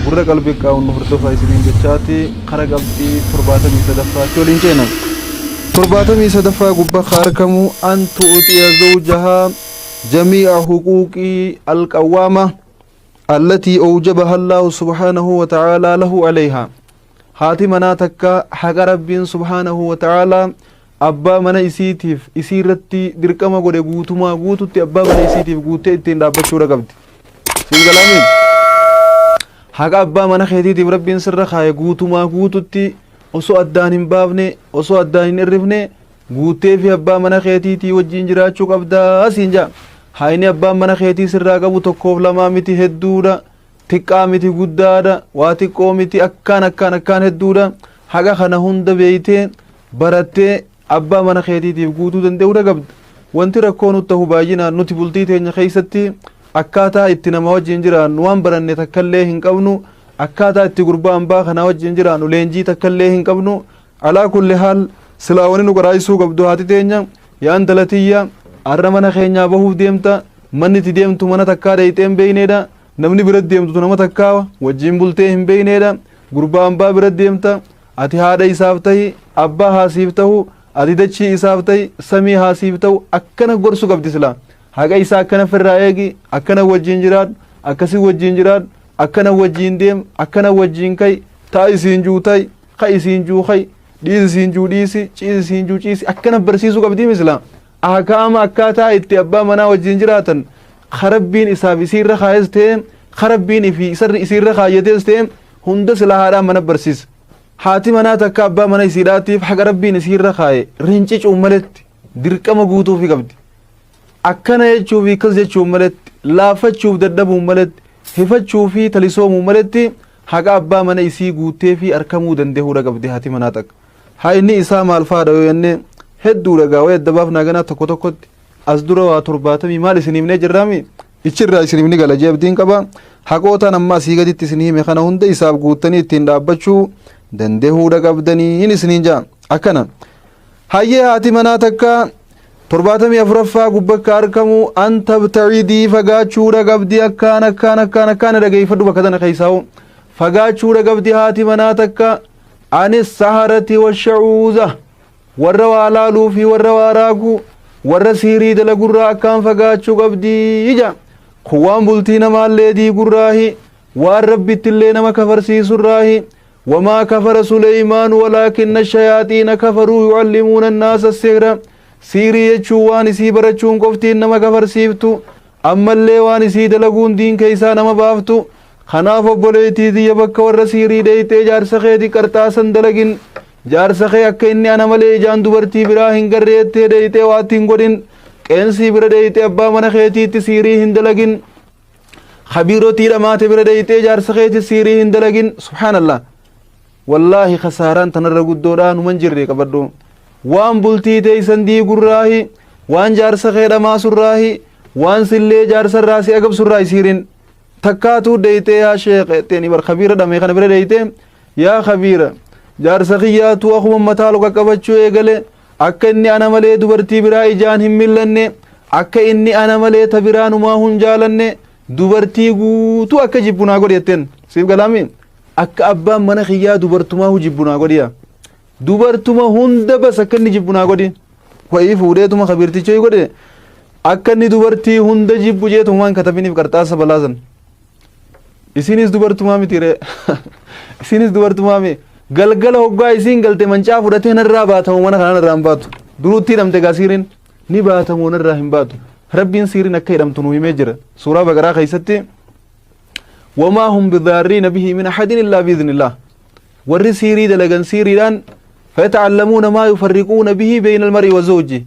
Gurra qalbii qaawwan nu hordofaa isiniin jechaati kara qabxii torbaatamii sadaffaatti waliin ceena. Torbaatamii sadaffaa gubbaa ka argamu antu uxiya zawjaha jamii'a huquuqii alqawwaama allatii awjabaha Allaahu subhaanahu wa ta'aalaa lahu alayhaa. Haati manaa takka haqa Rabbiin subhaanahu wa ta'aalaa abbaa mana isiitiif isii irratti dirqama godhe guutumaa guututti abbaa mana isiitiif guuttee ittiin dhaabbachuudha qabdi. Siin galaamiin haqa abbaa mana keetiitiif rabbiin sirra kaaye guutumaa guututti osoo addaan hin baafne osoo addaan hin irrifne guuttee fi abbaa mana keetiitii wajjin jiraachuu qabdaa siin jaa. Haayni abbaan mana keetii sirraa qabu tokkoof lamaa miti hedduudha. Xiqqaa miti guddaadha. Waa xiqqoo miti akkaan akkaan akkaan hedduudha. Haqa kana hunda beeytee barattee abbaa mana keetiitiif guutuu danda'uu dagabda. Wanti rakkoo nut tahu baay'inaan nuti bultii teenya keessatti akkaataa itti nama wajjin jiraannu waan baranne takkallee hin qabnu, akkaataa itti gurbaa ambaa kanaa wajjin jiraannu leenjii takkallee hin qabnu. Alaa kulli haal silaa wani nu qaraasisuu qabdu haati teenya yaa intala tiyya arra mana keenyaa bahuuf deemta manni itti deemtu mana takkaa dheeyxee hin beeyneedha namni bira deemtu nama takkaa wajjin bultee hin beeyneedha gurbaa ambaa bira deemta Ati haadha isaaf tahi, abbaa haa siif tahu, ati dachii isaaf tahi, samii haa siif tahu akkana gorsu qabdi silaa. Haqa isaa akkana firraa eegi, akkana wajjin jiraadhu, akkasi wajjin jiraadhu, akkana wajjin deem, akkana wajjin ka'i, ta'a isiin juu ta'i, ka'i isiin juu ka'i, dhiisi isiin juu dhiisi, ciisi isiin juu ciisi akkana barsiisuu qabdi misilaa. Ahkaama akkaataa itti abbaa manaa wajjin jiraatan karabbiin isaaf isiirra kaayes ta'e karabbiin fi isarri isiirra kaayyatees ta'e hunda silaa haadhaan mana barsiisa. Haati manaa takka abbaa mana isiidhaatiif haqa rabbiin isiirra kaaye rincicuun maletti dirqama guutuufi qabdi. Akkana jechuufi akkas jechuun maletti laaffachuuf dadhabuun maletti hifachuufi talisoomuun maletti haqa abbaa mana isii guutteefi arkamuu dandehuudha qabdi haati manaa takka. Haayni isaa maal faadha yoo jenne hedduudha gaa wayii adda baafnaa ganaa tokko tokkotti as dura waa torbaatamii maal isin himnee jirraami Ichi irraa isiniif ni gala jee abdiin qaba. Haqootaan amma asii gaditti isin hime kana hunda isaaf guuttanii ittiin dhaabbachuu dandehuudha qabdanii hin isiniin jaa. Akkana. Hayyee haati manaa takka torbaatamii afuraffaa gubbakka arkamu an tabtacidii fagaachuudha qabdi akkaan akkaan akkaan akkaan dhageeffadhu bakka tana keessaa hoo. Fagaachuudha qabdi haati manaa takka anis saharati washacuuza. Warra waa laaluu fi warra waa raagu, warra sihrii dalagurraa akkaan fagaachuu qabdi jedha. Kun waan bultii namaallee diigurraahi, waan Rabbittillee nama kafarsiisurraahi. Wamaa kafara Suleymaanu walaakinna shayaaxiina kafaruu yucallimuuna annaasa sihra. Sihrii jechuun waan isii barachuun qoftiin nama kafarsiiftu, ammallee waan isii dalaguun diin keessaa nama baaftu. Kanaaf obboleettii tiyya bakka warra sihrii dheeyxee jaarsa keeti qarxaasan dalagin, Jaarsa kee akka inni ana malee ijaan dubartii biraa hin garree jettee deeyxee waatti hin godhin. Qeensii bira deeyxee abbaa mana keetiitti siirii hin dalagin. Kabiirotii dhamaate bira deeyxee jaarsa keetti siirii hin dalagin. Subhaanallah. Wallaahi kasaaraan tanarra guddoodhaa numan jirre qabadhu. Waan bultii teeysan diigurraahi, waan jaarsa kee dhamaasurraahi, waan sillee jaarsarraa si agabsurraahi siirin. Takkaatuu deeyxee yaa sheekh jetteen ibar kabiira dhame kana bira deeyxee Yaa Kabiira! Jaarsa kiyyaatu akkuma mataa ol qaqqabachuu eegale, akka inni ana malee dubartii biraa ijaan hin millanne, akka inni ana malee ta biraa numaahuu hin jaalanne, dubartii guutuu akka jibbu naa godhi jetteen. Siif galaami? Akka abbaan mana kiyyaa dubartumaahuu jibbu naa godhiya. Dubartuma hunda bas akka inni jibbu naa godhi. Wayii fuudheetuma kabiirtichoo godhe akka inni dubartii hunda jibbu jeetumaan katabiniif qarxaasa balaasan. Isinis dubartumaa miti ree. Isinis dubartumaa mee. Galgala hoggaa isiin galte mancaa fudhatee narraa baatamu mana kanaan irraa hin baatu. Duruutti hidhamte gaa siiriin ni baatamu narraa hin baatu. Rabbiin siiriin akka hidhamtu nu himee jira. Suuraa baqaraa keessatti wamaa hum bidaarriina bihi min ahadin illaa biiznillah. Warri siirii dalagan siiriidhaan fayata'allamuuna maa yufarriquuna bihi beeyna almarii wa zawji.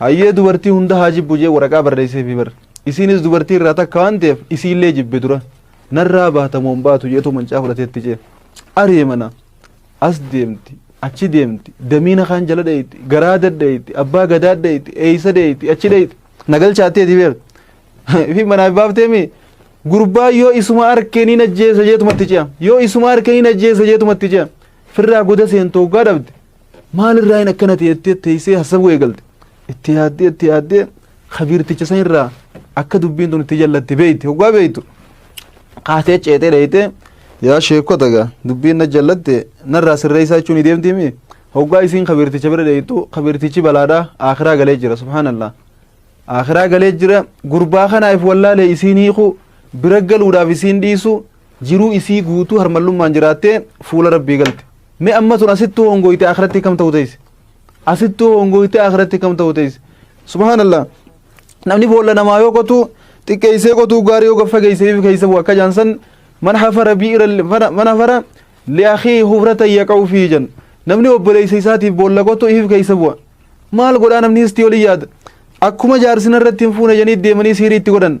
Hayyee dubartii hunda haa jibbu jee waraqaa barreesseefi bar. Isiinis dubartii irraa takka waan ta'eef isiillee jibbe dura. Narraa baata moo hin baatu jeetu mancaa fudhatee itti ce'e. Aree mana. As deemti. Achi deemti. Damiina kaan jala dheeyxi. Garaa dadheeyxi. Abbaa gadaa dheeyxi. Eeysa dheeyxi. Achi dheeyxi. Na galchaatteeti beer. Ifi manaa hin baafteemi. Gurbaa yoo isuma arkee niin ajjeesa jeetumatti ce'a. Yoo isuma arkee niin ajjeesa jeetumatti ce'a. Firraa goda seentu hoggaa dhabde. Maalirraa hin akkana ta'e jettee teessee hassabuu eegalte. Itti yaaddee itti yaaddee kabiirticha san irraa akka dubbiin tun itti jallatte beekte hoggaa beektu. Kaatee ceetee dheeytee yaa sheekota gaa dubbiin na jallatte narraa sirreessaa jechuun ni deemti mii. Hoggaa isiin kabiirticha bira dheeytu kabiirtichi balaadhaa akiraa galee jira subhaanallah. Akiraa galee jira gurbaa kanaaf wallaalee isiin hiiku bira galuudhaaf isiin dhiisu Jiruu isii guutuu harmallummaan jiraattee fuula Rabbii galte. Mee amma tun asittuu hongooyte akhiratti kam ta'u teeyse? Asittuu hongooyte akhiratti kam ta'u teeyse? Subhaanallah. Namni boolla namaa yoo qotu xiqqeessee qotuu gaarii yoo gaffa geesseef keessa bu'a akka jaansan man hafara bi'ira man hafara li'akii hufrata yaqa'u fi jan. Namni obboleessa isaatiif boolla qotu ifiif keessa bu'a. Maal godhaa namni istii olii yaada? Akkuma jaarsina irratti hin fuune janii deemanii siirii itti godhan.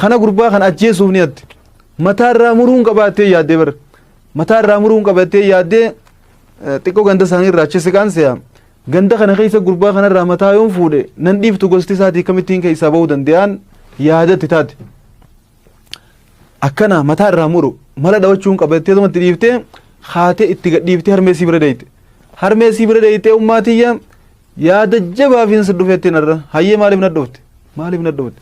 Kana gurbaa kana ajjeesuuf ni yaaddee. Mataa irraa muruun qaba jettee yaaddee bara. Mataa irraa muruun qaba jettee yaaddee xiqqoo ganda isaanii irraa achi siqaan se'a. Ganda kana keessa gurbaa kanarraa mataa yoon fuudhe nan dhiiftu gosti isaatii kamittiin keessaa bahuu danda'an yaadatti taate. Akkana mataa irraa muru mala dhawachuun qaba jettee tomatti dhiiftee haatee itti gadhiiftee harmee sii bira deeyte. Harmee sii bira deeytee ummaa tiyya Yaada jabaafin si dhufeettiin har'a. Hayyee maaliif na dhufte? Maaliif na dhufte?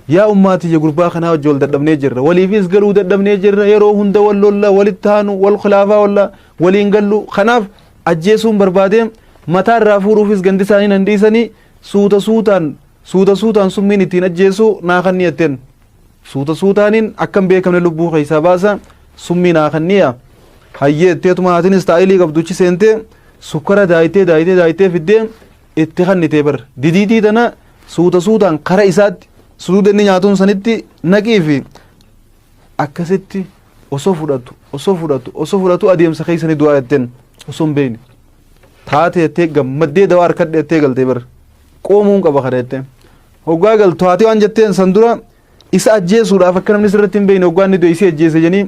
Yaa ummaatiyya gurbaa kanaa wajji wal dadhabnee jirra. Waliifis galuu dadhabnee jirra. Yeroo hunda wal lolla, walitti haanu, wal khilaafaa olla, waliin gallu. Kanaaf ajjeesuun barbaadee mataa irraa fuudhuufis gandi isaanii nan dhiisanii suuta suutaan suuta suutaan summiin ittiin ajjeesuu naa kannii jetteen. Suuta suutaanin akka hin beekamne lubbuu keessaa baasa summii naa kanniya hayyee jetteetuma haatiin istaayilii qabduchi seentee sukkara daayitee daayitee daayitee fiddee itti kannitee bar didiitii tana suuta suutaan kara isaatti suduuda inni nyaatuun sanitti naqii fi akkasitti osoo fudhatu osoo fudhatu osoo fudhatu adeemsa keessa ni du'aa jetteen osoo hin beekne taatee jettee gammaddee dawaa harkadhe jettee galtee bar qoomuun qaba kana jettee Hoggaa galtu haati waan jetteen san dura isa ajjeesuudhaaf akka namni sirratti hin beekne hoggaa inni du'e isii ajjeese janii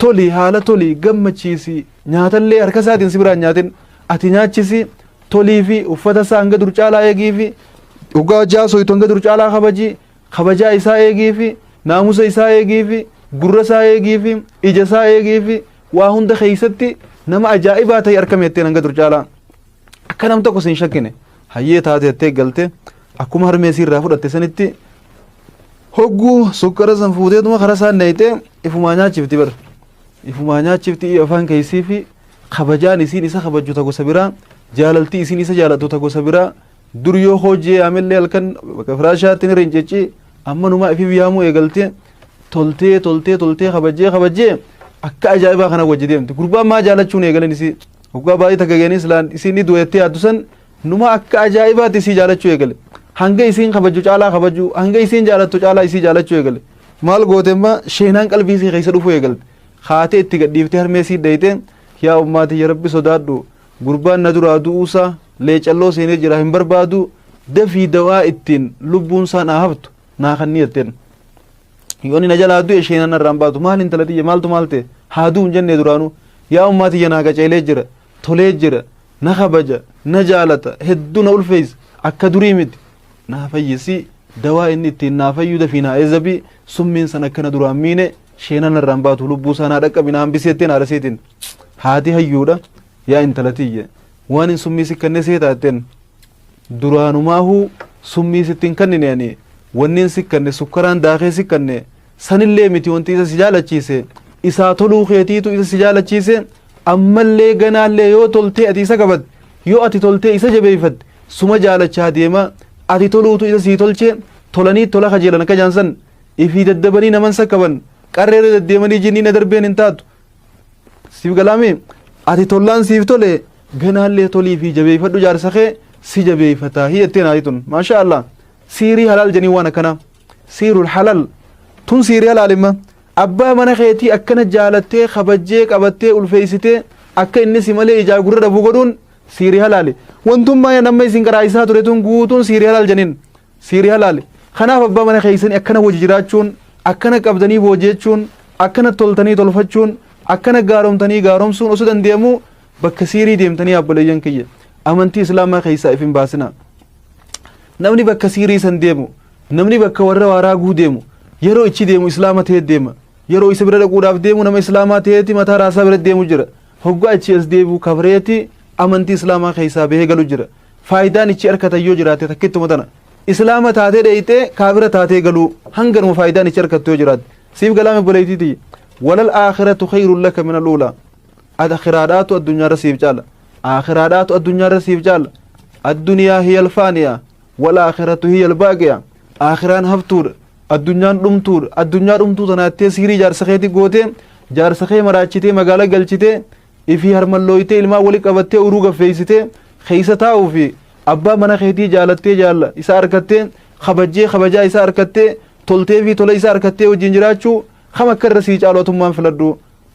toli haala toli gammachiisi nyaatallee harka isaatiin si biraan nyaatin ati nyaachisi tolii fi uffata isaa hanga dur caalaa eegii fi hoggaa hojjaa soytu hanga dur caalaa kabaji kabajaa isaa eegii fi naamusa isaa eegii fi gurra isaa eegii fi ija isaa eegii fi waa hunda keessatti nama ajaa'ibaa ta'e harka meetteen hanga dur caalaa. Akka nam tokko sin shakkine hayyee taate jettee galte akkuma harmee siirraa fudhatte sanitti hogguu sukkara san fuuteetuma karaa isaan nayxee ifumaa nyaachifti bar ifumaa nyaachifti iyo afaan keessii fi kabajaan isiin isa kabajju ta gosa biraa jaalaltii isiin isa jaalattu ta gosa biraa dur yoo hojii yaamellee halkan bakka firaashaatti ni rincicci amma numaa ifiif yaamuu eegaltee toltee toltee toltee kabajjee kabajjee akka ajaa'ibaa kana wajji deemti gurbaan maa jaalachuun eegalan isii Hoggaa baay'ee takka geenii silaan isiin ni du'eettee yaaddu san numa akka ajaa'ibaatti isii jaalachuu eegale. Hanga isiin kabaju caalaa kabaju hanga isiin jaalattu caalaa isii jaalachuu eegale. Maal goote immoo sheenaan qalbii isii keessa dhufuu eegalte. Kaatee itti gadhiiftee harmee isii dheeyte yaa ummaatii ya rabbi sodaadhu gurbaan na duraa du'uusaa leecalloo seenee jira hin barbaadu dafii dawaa ittiin lubbuun isaan haa haftu. naa kanni jetteen yoo inni na jalaa du'e isheen ana irraan baatu maal intala tiyya maaltu maal ta'e haa du'u hin jennee duraanuu yaa ummaa tiyya naa qaceelee jira tolee jira na kabaja na jaalata hedduu na ulfeessa akka durii miti naa fayyisii dawaa inni ittiin naa fayyuu dafii naa eezabii summiin san akkana duraan miine sheenan irraan baatu lubbuu isaa naa dhaqqabi naa hambisii jetteen haadha seetiin haati hayyuudha yaa intala tiyya waan hin summii si kenne seetaa jetteen Duraanumaahuu summii sitti hin kannine ani wannin si kanne sukkaraan daakee si kanne sanillee miti wanti isa si jaalachiise isaa toluu keetiitu isa si jaalachiise ammallee ganaallee yoo toltee ati isa qabatte yoo ati toltee isa jabeeffatte suma jaalachaa deema ati toluutu isa sii tolchee tolanii tola kajeelan akka jaansan ifii daddabanii naman sakkaban qarreerra deddeemanii jinniina darbeen hin taatu siif galaame ati tollaan siif tole ganaallee tolii fi jabeeffadhu jaarsa kee si jabeeffataa hi jettee naati tun maashaa allah siirii halaal janii waan akkana siirul halal tun siirii halaalimma abbaa mana keetii akkana jaalattee kabajjee qabattee ulfeessitee akka inni si malee ijaa gurra dhabuu godhuun siirii halaali wantummaa namma isin qaraayisaa ture tun guutuun siirii halaal janiin Siiri halaali. Kanaaf abbaa mana keessanii akkana wajji jiraachuun, akkana qabdanii boojeechuun, akkana toltanii tolfachuun, akkana gaaromtanii gaaromsuun osoo dandeemuu bakka siirii deemtanii abboleeyyan kiyya. Amantii Islaamaa keessaa if hin baasinaa. Namni bakka siirii san deemu, namni bakka warra waaraa guu deemu, yeroo ichi deemu Islaama ta'ee deema. Yeroo isa bira dhaquudhaaf deemu nama Islaamaa ta'eeti mataa raasaa bira deemu jira. Hoggaa ichi as deebi'u kabreeti amantii Islaamaa keessaa bahee galu jira. faayidaan ichi arkatan yoo jiraate takkittuma tana islaama taatee dheeyxee kaafira taatee galuu hanganuma faayidaan ichi arkattu yoo jiraate siif galaame boleeytiiti walal aakhiratu khayrun laka min aluula ad akhiraadhaatu addunyaarra siif caala aakhiraadhaatu addunyaarra siif caala addunyaa hiya alfaaniya wal aakhiratu hiya albaaqiya aakhiraan haftuudha addunyaan dhumtuudha addunyaa dhumtuu tanaattee siirii jaarsa keetti gootee jaarsa kee maraachitee magaala galchitee ifii harmallooytee ilmaan wali qabattee uruu gaffeeysitee keeysa taa'uu fi abbaa mana keetii jaalattee jaalla isa arkattee kabajjee kabajaa isa arkattee toltee fi tola isa arkattee wajjin jiraachuu kam akka irra sii caalu atummaan filadhu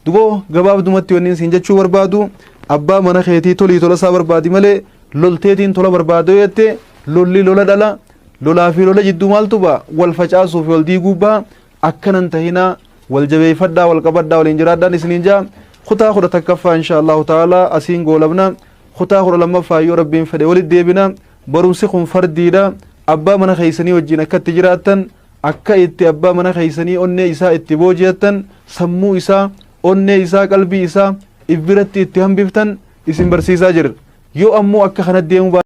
duboo gabaabdumatti wanniin siin jechuu barbaadu abbaa mana keetii tolii tola isaa barbaadi malee lolteetiin tola barbaadoo jettee lolli lola dhala lolaa fi lola jidduu maaltu ba'a wal facaasuu fi wal diiguu ba'a akkana hin tahinaa wal jabeeffadhaa wal qabadhaa waliin jiraadhaan isiniin jaa kutaa kudha takkaffaa insha allahu ta'ala asiin goolabna kutaa kudha lammaffaa yoo rabbiin fedhe walitti deebina barumsi kun fardiidha abbaa mana keessanii wajjin akka itti jiraattan akka itti abbaa mana keessanii onnee isaa itti booji'attan sammuu isaa onnee isaa qalbii isaa if biratti itti hambiftan isin barsiisaa jirra yoo ammoo akka kana deemuu